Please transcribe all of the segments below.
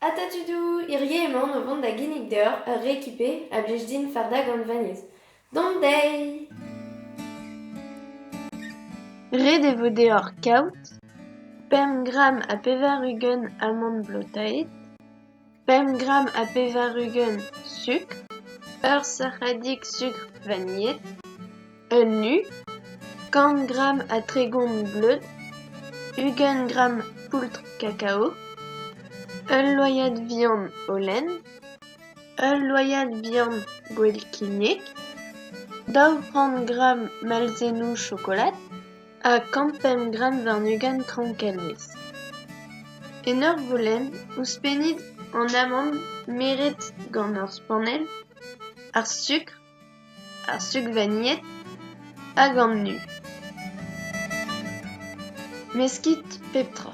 Atatudou hirie emaon o vont da ginnig deoc'h ur rekipe a blij din fardañ gant vanilhez. Dont dezhi! Ret e vo deoc'h kaout pemp gramm ha pevar-ugent amann blotaet, pemp gramm ha pevar-ugent sukr, ur sac'hadig sukr vanilhet. un nu, kant gramm a tregont bleud, ugent gramm poultr kakao, ul loyad vihan o lenn, ul loyad vihan gwell kignek, daou c'hant gramm malzennoù chokolad ha kant-pemp gramm warn-ugent traoñkelezh. En ur volenn ouzhpennit an amann meret gant ur spanell, ar sukr ar sugvanied hag an nu. Meskit pep tra.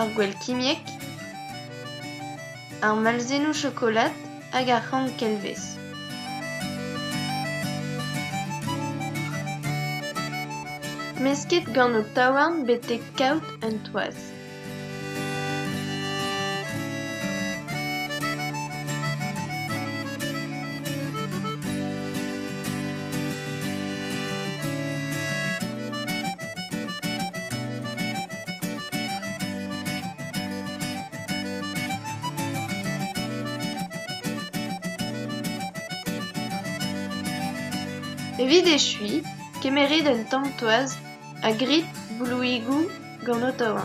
ar gwell kimiek, ar malzennoù chokolad hag ar c'han kelvez. Mesket gant ho taouarn betek kaout un toaz. Evit echuiñ, kemeret un tamm toaz ha grit blouigoù gant Ottawa.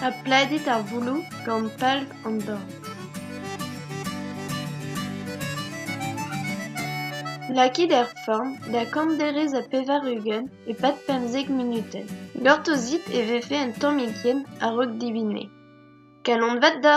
Ha pladet ar vouloù gant palv an dorn. Lakit er forn da kant derez ha pevar-ugent e-pad pemzek munutenn. Gortozit e vefe un tammig yen a-raok dibine. Kalon vat da!